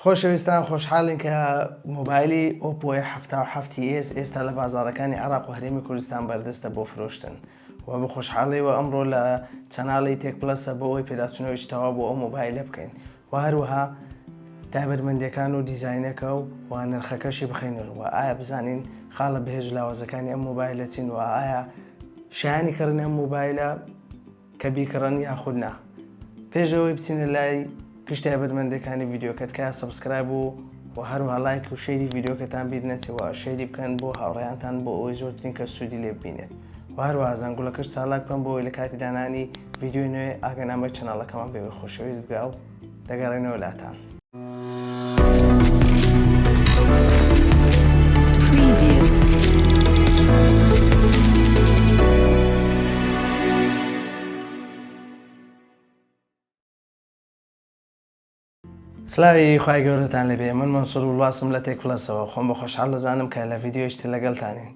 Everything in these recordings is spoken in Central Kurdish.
خۆشەویستان خۆشحاڵین کە مۆبایلی ئۆپۆ ئێ حەفتا و حەفت ی ئێس ئێستا لە بازاڕەکانی عێڕاق و هەرێمی کوردستان بەردەستە بۆ فرۆشتن و بە خۆشحاڵیەوە ئەمڕۆ لە چەناڵی تێک پڵەسە بۆ ئەوەی پێداچوونەوەیەکی تەواو بۆ ئەو مۆبایلە بکەین و هەروەها تایبەتمەندیەکان و دیزاینەکە و و نرخەکەشی بخەینەر و ئایا بزانین خاڵە بەهێز و لاوازەکانی ئەم مۆبایلە چین و ئایا شایانی کڕینی ئەم مۆبایلە کە بیکڕن یاخود نا پێش ئەوەی بچینە لای گشت تایبەتمەندەکانی ڤیددیوکە تکایە سبسکرایب و و هەروها لایک و شەیری ڤیددیوکەتان بیر نەچەوە شەیری بکەن بۆ هاوڕێیانتان بۆ ئەوەی زۆرترین کە سوودی لێ ببینێت و هەروها زەنگوڵەکەش چالاک بکەن بۆ ئەوەی لە کاتی دانانی ڤیددیوی نوێ ئاگەنامەی چەناڵەکەمان بێوەی خۆشەویست بگا و دەگەڕێنەوە لاتان. سلاوی خی گەورەتان لەبێ من منسوور وڵاسم لە تێک پلەسەوە خۆم بە خۆشحال دەزانم کە لە یددیوشتی لەگەڵتانین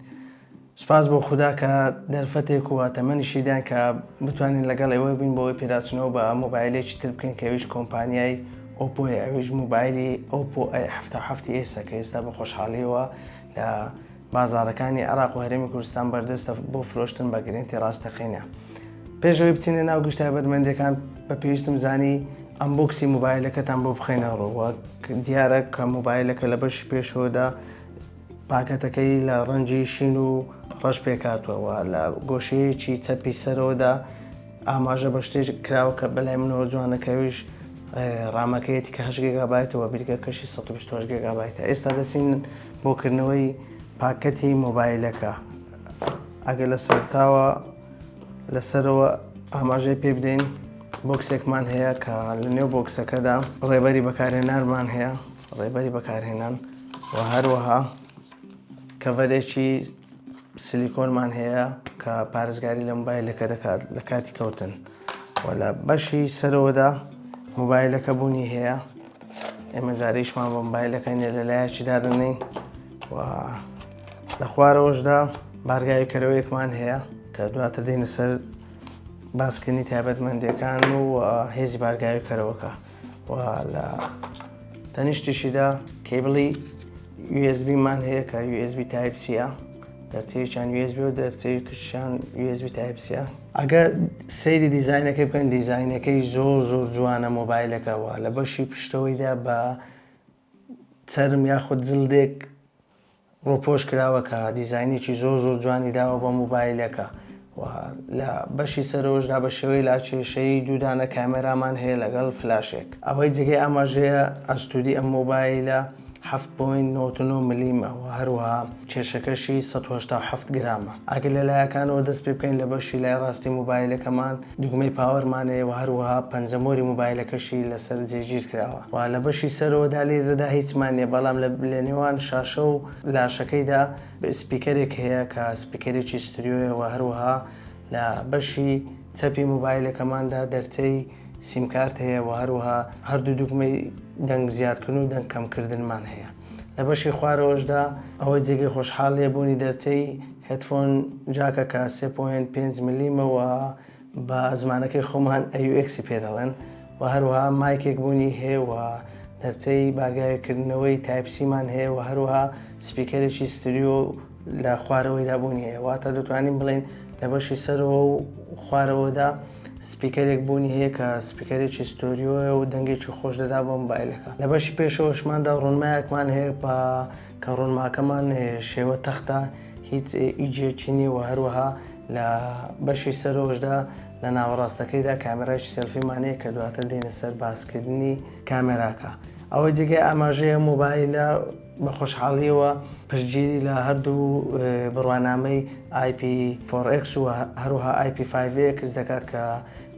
سوپاس بۆ خودا کە دەرفەتێک و تەمەنیشی دان کە بتوانین لەگەڵ ئێوە بین بۆ ئەوەی پێداچوونەوە بە مۆبایلێکی تر بکەین کە ئەویش کۆمپانیای ئۆپۆیە ئەویش مۆبایلی ئۆپۆ ئەی حەفتا و حەفتی ئێسە کە ئێستا بە خۆشحاڵیەوە لە بازاڕەکانی عێراق و هەرێمی کوردستان بەردەستە بۆ فرۆشتن بە گرنتی ڕاستەقینە پێشەوەی بچینە ناو گشت تایبەتمەندەکان بە پێویستم زانی ئەمبۆکسی مۆبایلەکەتان بۆ بخێنە ڕۆوە دیارە کە مۆبایلەکە لە بەشی پێشەوەدا پاکەتەکەی لە ڕەنگی شین و ڕەش پێکهاتووە و لە گۆشەیەکی چەپی سەرەوەدا ئاماژە بە شتێک کراوە کە بەلای منەوە جوانە کە ئەویش ڕامەکەیەتی کە هەشت گێگابایتە و بیرگەکەشی سەد و بیست و هەشت گێگابایتە ئێستا دەچین بۆ کردنەوەی پاکەتی مۆبایلەکە ئەگەر لە سەرتاوە لەسەرەوە ئاماژەی پێ بدەین بۆکسێکمان هەیە کە لە نێو بۆکسەکەدا ڕێبەری بەکارهێنەرمان هەیە ڕێبەری بەکارهێنان و هەروەها کەڤەرێکی سلیکۆنمان هەیە کە پارێزگاری لە مۆبایلەکە دەکات لە کاتی کەوتن و لە بەشی سەرەوەدا مۆبایلەکە بوونی هەیە ئێمە جارێکمان بۆ مۆبایلەکەی نێ لە لایەکی دادنین و لە خوارەوەشدا بارگاوی کەرەوەیەکمان هەیە کە دواتر دێنە سەر باسکردنی تایبەتمەندەکان و هێزی بارگاوی کەرەوەکە و لە تەنیشتیشیدا کەیبڵی USB مان هەیە کە USB تایپ سیە دەرچەیەکیان USB و دەرچەی کشیان USB تایپ سیە ئەگە سەیری دیزینەکەی بکەن دیزینەکەی زۆر زۆر جوانە مۆبایلەکەەوە لە بەشی پشتەوەیدا بە چرم یاخود زلدێک ڕووپۆش کراوە کە دیزاینێکی زۆر زۆر جوانی داوە بە مۆبایلەکە و لە بەشی سەرەوەشدا بە شێوەی لاکێشەیی دوو دانە کامێرامان هەیە لەگەڵ فلاشێک. ئەوەی جێگەی ئاماژەیە ئەستووری ئەم مۆبایلە حەفت پۆینت نەوەد و نۆ ملیمە و هەروەها کێشەکەشی سەد و هەشتا و حەفت گرامە. ئەگەر لە لایەکانەوە دەست پێ بکەین لە بەشی لای ڕاستی مۆبایلەکەمان، دوگمەی پاوەرمان هەیە و هەروەها پەنجەمۆری موبایلەکەشی لەسەر جێگیر کراوە و لە بەشی سەرەوەدا لێرەدا هیچمان نییە بەڵام لە نێوان شاشە و لاشەکەیدا سپیکەرێک هەیە کە سپیکەرێکی ستریۆیە و هەروەها لە بەشی چەپی موبایلەکەماندا دەرچەی سیمکارت هەیە و هەروەها هەردوو دوگمەی دەنگ زیادکردن و دەنگ کەمکردنمان هەیە. لە بەشی خوارەوەشدا ئەوەی جێگەی خۆشحاڵیە بوونی دەرچەی هێدفۆن جاکەکە سێ پۆینت پێنج ملیمە و بە زمانەکەی خۆمان AUX پێ دەڵێن و هەروەها مایکێک بوونی هەیە و دەرچەی بارگاوێکردنەوەی تایپ سیمان هەیە و هەروەها سپیکەرێکی ستریۆ لە خوارەوەیدا بوونی هەیە واتە دەتوانین بڵێین لە بەشی سەرەوە و خوارەوەدا سپیکەرێک بوونی هەیە کە سپیکەرێکی ستۆریۆیە و دەنگێکی خۆش دەدا بۆ مۆبایلەکە لە بەشی پێشەوەشماندا ڕونمایەکمان هەیە بە کە ڕونماکەمان شێوە تەختە هیچ ئیجێکی نیە و هەروەها لە بەشی سەرۆشدا لە ناوەڕاستەکەیدا کامێرای سەلفیمانەیە کە دواتر دێنە سەر باسکردنی کامێراکە ئەوەی جێگەی ئاماژەیە مۆبایلە بە خۆشحاڵییەوە پشتگیری لە هەردوو بڕوانامەی ئای پی فۆڕ ئێکس و هەروەها ئای پی فایڤ ئێکس دەکات کە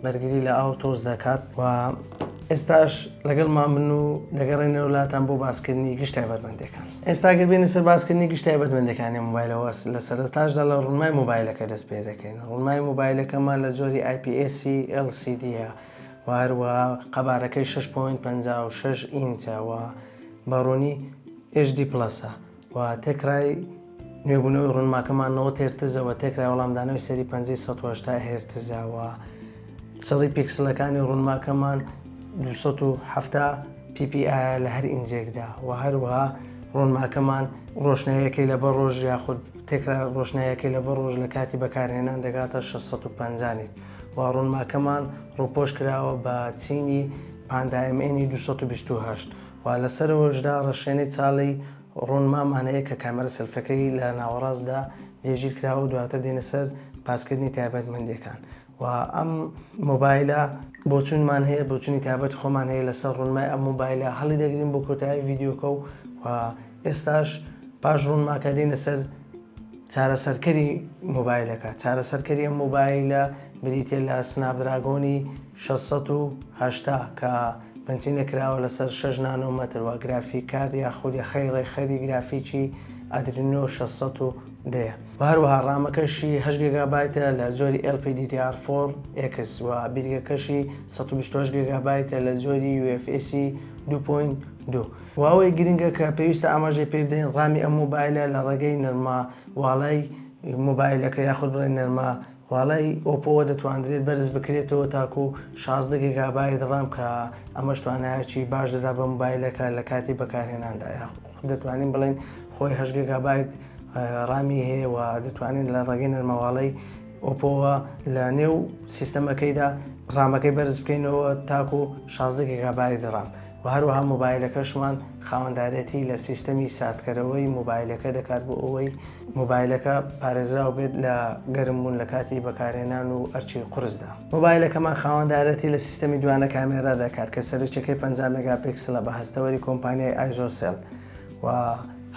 بەرگری لە ئاو تۆز دەکات و ئێستاش لەگەڵمان بن و دەگەڕێنەوە وڵاتان بۆ باسکردنی گشت تایبەتمەندەکان ئێستا گەبێنە سەر باسکردنی گشت تایبەتمەندەکانی موبایلەوە لە سەرتاشدا لە ڕوونمای موبایلەکە دەست پێ دەکەین ڕوونمای موبایلەکەمان لە جۆری IPSC LCDە وهروە قەبارەکەی 6.56 ئینچەوە بارۆنی ئێچ دی پڵەسە و تێکرای نوێبوونەوەی ڕوونماکەمان نەوەد هێرتزە و تێکرای وەڵامدانەوەی سەری پەنجەی سەد و هەشتا هێرتزە و چڕی پیکسلەکانی ڕوونماکەمان دوو سەد و حەفتا PPI لە هەر ئینجێکدا و هەروەها ڕوونماکەمان ڕۆشناییەکەی لە بە ڕۆژ یاخود تێکرا ڕۆشناییەکەی لە بە ڕۆژ لە کاتی بەکارهێنان دەگاتە 650 نیت و ڕوونماکەمان ڕووپۆش کراوە بە چینی پاندا MN 228 و لە سەرەوەشدا ڕەشێنەی چاڵی ڕوون مام ئانەیە کە کامێرە سێلفیەکەی لە ناوەڕاستدا جێگیر کراوە و دواتر دێینە سەر باسکردنی تایبەتمەندیەکان و ئەم مۆبایلە بۆچوونمان هەیە بۆچوونی تایبەتی خۆمان هەیە لەسەر ڕوونمای ئەم مۆبایلە هەڵی دەگرین بۆ کۆتایی ڤیدیۆکە و و ئێستاش پاش ڕوونماکە دێینە سەر چارەسەرکەری مۆبایلەکە چارەسەرکەری ئەم مۆبایلە بریتە لە سناپدراگۆنی 680 کە بنچینە کراوە لەسەر شەش نانۆ مەتر وە گرافیک کارد یا خود یەخەی ڕێکخەری گرافیکی ئادرینۆ شەش سەد و دە یە وە هەروەها ڕامەکەشی هەشت گێگابایتە لە جۆری ئێڵ پی دی دی ئاڕ فۆڕ ئێکس وە بیرگەکەشی سەد و بیست و هەشت گێگابایتە لە جۆری یو ئێف ئێسی دوو پۆینت دوو. وە ئەوەی گرنگە کە پێویستە ئاماژەی پێ بدەین ڕامی ئەم مۆبایلە لە ڕێگەی نەرمە واڵای مۆبایلەکە یاخود بڵێین نەرمە والای ئۆپۆ وە دەتواندرێت بەرز بکرێتەوە تاکو شازدە گێگابایت ڕام کە ئەمەش توانایەکی باش دەدا بە مۆبایلەکە لە کاتی بەکارهێناندا یاخود دەتوانین بڵێین خۆی هەشت گێگابایت ڕامی هەیە و دەتوانین لە ڕێگەی نەرمەواڵەی ئۆپۆوە لە نێو سیستەمەکەیدا ڕامەکەی بەرز بکەینەوە تاکو و 16 گگابای دڕام و هەروەها مۆبایلەکەشمان خاوەندارێتی لە سیستەمی ساردکەرەوەی مۆبایلەکە دەکات بۆ ئەوەی مۆبایلەکە پارێزراو بێت لە گەرم بوون لە کاتی بەکارهێنان و ئەرچی قورسدا. مۆبایلەکەمان خاوەندارێتی لە سیستەمی دوانە کامێرا دەکات کە سەرچەکەی پەنجا مێگاپیکسلە بە هەستەوەری کۆمپانیای ئایزۆسێل و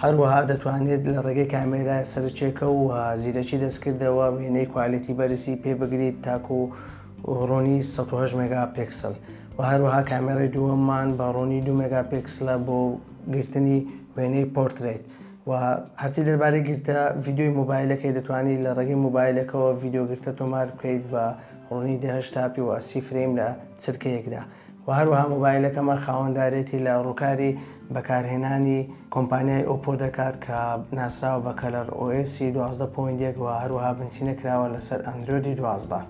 هەروەها دەتوانێت لە ڕێگەی کامێرایە سەرچێکە و زیرەکی دەستکردەوە وێنەی کوالێتی بەرزی پێ بگریت تاکو ڕۆنی 1970 مێگاپیکسل و هەروەها کامێرای دووەممان بە ڕۆنی دو مێگاپیکسلە بۆ گرتنی وێنەی پۆرترەیت وە هەرچی دەربارەی گرتە ڤیدیۆی مۆبایلەکەی دەتوانی لە ڕێگەی مۆبایلەکەوە ڤیدیۆ گرتە تۆمار بکەیت بە ڕوونی دە هەشتا پی وە سی فرەیم لە چرکەیەکدا و هەروەها مۆبایلەکەمان خاوەندارێتی لە ڕووکاری بەکارهێنانی کۆمپانیای ئۆپۆ دەکات کە ناسراوە بە کەلەر ئۆ ئێسی دوازدە پۆینت یەک و هەروەها بنچینە کراوە لەسەر ئەندرۆیدی دوازدە.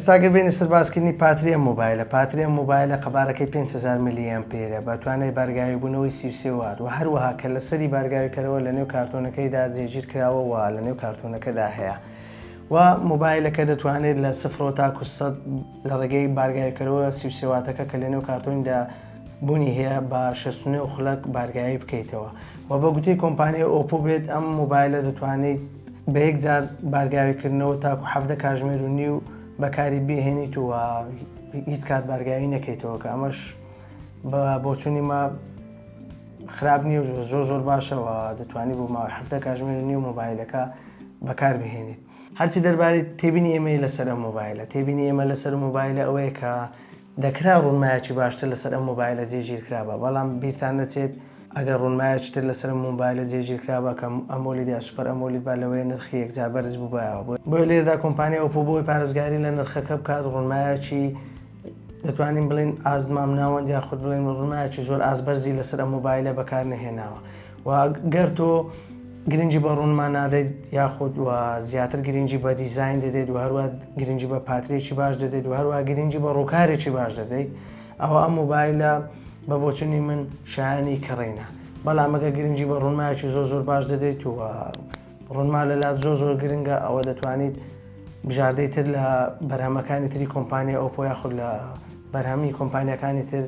ئێستاگە بینە سەربازکردنی پاتریە مۆبایلە پاتریە مۆبایلە قەبارەکەی 500 میلیەن پێرە بە توانای بارگاوی بوونەوەی سیوسێوات و هەروەها کە لەسەری بارگاویکەرەوە لە نێو کارتۆنەکەیدا جێگیر کراوەوە لە نێو کارتۆنەکەدا هەیە و مۆبایلەکە دەتوانێت لە سفرەوە تاکو سەد لە ڕێگەی بارگایکەرەوە سی و سێ واتەکە کە لەنێو کارتۆنیدا بوونی هەیە بە شەست و نۆ خولەک بارگایی بکەیتەوە و بە گوتەی کۆمپانیای ئۆپۆ بێت ئەم مۆبایلە دەتوانیت بە یەک جار بارگاویکردنەوە تاکو حەڤدە کاژمێر و نیو بەکاری بهێنیت و هیچ کات بارگاوی نەکەیتەوە کە ئەمەش بە بۆچوونی ما خراپ نییە و زۆر زۆر باشەوە دەتوانانی بۆ ماوەی هەفتە کاژمێر و نیو مۆبایلەکە بەکار بهێنیت هەرچی دەربارەی تێبینی ئێمەی لەسەر ئەم مۆبایلە تێبینی ئێمە لەسەر مۆبایلە ئەوەیە کە دەکرا ڕوونمایەکی باشتر لەسەر ئەم مۆبایلە جێگیر کرابە بەڵام بیرتان نەچێت ئەگەر ڕوونمایەکی تر لەسەر مۆبایلە جێگیر کرابە کەم ئەمۆلی دیا سوپەر ئەمۆلیت با لەوەی نرخی یەکجا بەرز بووبایەوە بۆ لێردا کۆمپانیا ئۆپۆ بۆی پارێزگاری لە نرخەکە بکات ڕوونمایەکی دەتوانین بڵێن ئاست مامناوەند یاخود بڵێن ڕوونایەکی زۆر ئاست بەرزی لەسەر ئەم مۆبایلە بەکار نەهێناوە و گەر تۆ گرنگی بە ڕوونمان نادەیت یاخود و زیاتر گرنگی بە دیزین دەدەیت و هەروە گرنگی بە پاترێکی باش دەدەیت و هەروە گرنگی بە ڕووکارێکی باش دەدەیت ئەوە ئەم مۆبایلە بە بۆچنی من شایانی کڕینە بەڵام ئەگە گرنگی بە ڕوونمایکی زۆ زۆر باش دەدەیت و ڕۆنما لەلات زۆر زۆر گرنگە ئەوە دەتوانیت بژاردەی تر لە بەرهەمەکانی تری کۆمپانیای ئۆپۆ یاخود لە بەرهەمی کۆمپانیەکانی تر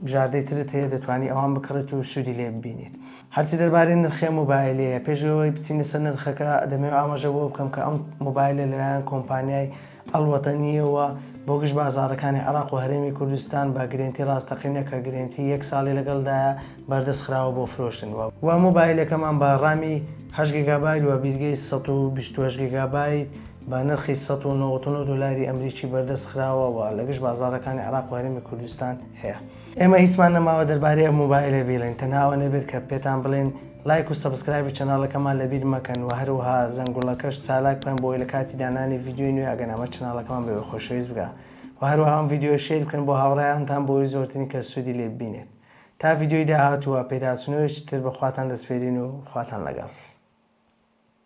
بژاردەی ترت هەیە دەتوانانی ئەوان بکڕێت و سوودی لێ ببینیت هەرچی دەربارەی نرخێ مۆبایلەیە پێشەوەی بچینە سەر نرخەکە دەمەوێت ئاماژە بۆ بکەم کە ئەم مۆبایلە لەلایەن کۆمپانیای الوطنییەوە بۆ گشت بازاڕەکانی عێراق و هەرێمی کوردستان بە گرێنتی ڕاستەقینە کە گرێنتی یەک ساڵی لەگەڵدایە بەردەست خراوە بۆ فرۆشتن و مۆبایلەکەمان بە ڕامی هەشت گیگابایت و بیرگەی سەد و بیست و هەشت گیگابایت بە نرخی سەد و نەوەد و نۆ دۆلاری ئەمریکی بەردەست خراوە و لە گشت بازاڕەکانی عێراق و هەرێمی کوردستان هەیە. ئێمە هیچمان نەماوە دەربارەی ئەم مۆبایلە بیڵێن تەنها ئەوە نەبێت کە پێتان بڵێن لایک و سەبسکرایبی چەناڵەکەمان لەبیر مەکەن و هەروەها زەنگوڵەکەش چالاک بکەن بۆی لە کاتی دانانی ڤیددیوی نوێ ئەگەنامە چەناڵەکەمان بەوێ خۆشەویست بگا و هەروەها ئەم ڤیددیو شیر بکەن بۆ هاوڕێیانتان بۆی زۆرترین کە سوودی لێ ببینێت تا ڤیددیوی داهاتووە پێداچنەوەیەکی تر بە خواتان دەسپێرین و خواتان لەگەڵ